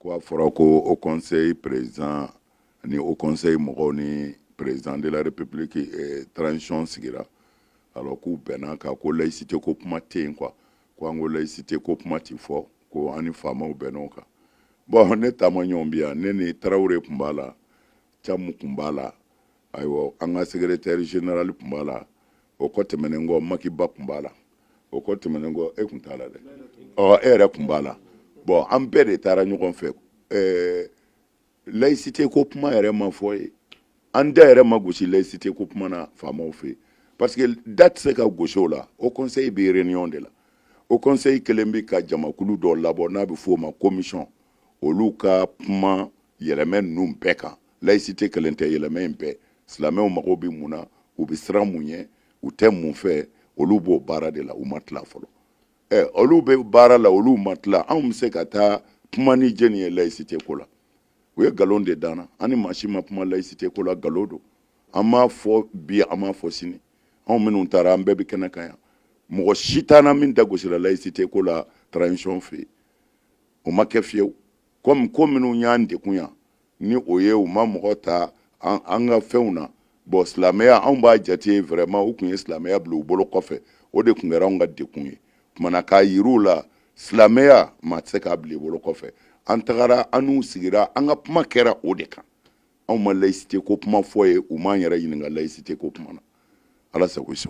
ko a fɔra ko haut conseil président ni haut conseil mɔgɔw ni président de la république eh, transition sigira alors k'u bɛnn'a kan ko laïcité ko kuma tɛ yen quoi ko an ko laïcité ko kuma ti fɔ ko an ni faamaw bɛnn'o kan bon ne taamaɲɔgɔn bi yan ne ni tarawele tun b'a la camu tun b'a la ayiwa an ka secrétaire général tun b'a la o kɔ tɛmɛnen kɔ maki ba tun b'a la o kɔ tɛmɛnen kɔ e tun t'a la dɛ ɔ e yɛrɛ tun b'a la bɔn an bɛɛ de taara ɲɔgɔn fɛ ɛɛ layisite ko kuma yɛrɛ ma fɔ yen an da yɛrɛ ma gosi layisite ko kuma na faamaw fɛ parce que da tɛ se ka gosi o la haut conseil bɛ réunion de la haut conseil kɛlen bɛ ka jamakulu dɔ labɔ n'a bɛ f'o ma commission olu ka kuma yɛlɛmɛ ninnu bɛɛ kan layisite kelen tɛ yɛlɛmɛ in bɛɛ silamɛw mago bɛ mun na u bɛ siran mun ye u tɛ mun fɛ olu b'o baara de la u ma tila fɔlɔ ɛ olu bɛ baara la olu ma tila anw bɛ se ka taa kuma ni jɔni ye layisite ko la u ye nkalon de da an na an ni maa si ma kuma layisite ko la nkalon don an m'a fɔ bi an m'a fɔ sini anw minnu taara an bɛɛ bɛ kɛnɛ kan yan mɔgɔ si t'an na min da gosira layisite ko la transition fɛ yen o ma kɛ fiyewu komi ko minnu y'an degun yan ni o ye u ma mɔgɔ ta an ka fɛnw na bɔn silamɛya anw b'a jate vraiment u tun ye silamɛya bila u bolo kɔfɛ o de tun kɛra anw ka degun ye kuma na k'a yir'u la silamɛya maa tɛ se k'a bila i bolo kɔfɛ an tagara an n'u sigira an ka kuma kɛra o de kan anw ma layisite ko kuma fɔ yen u m'an yɛrɛ ɲininka layisite ko kuma na ala sago i sago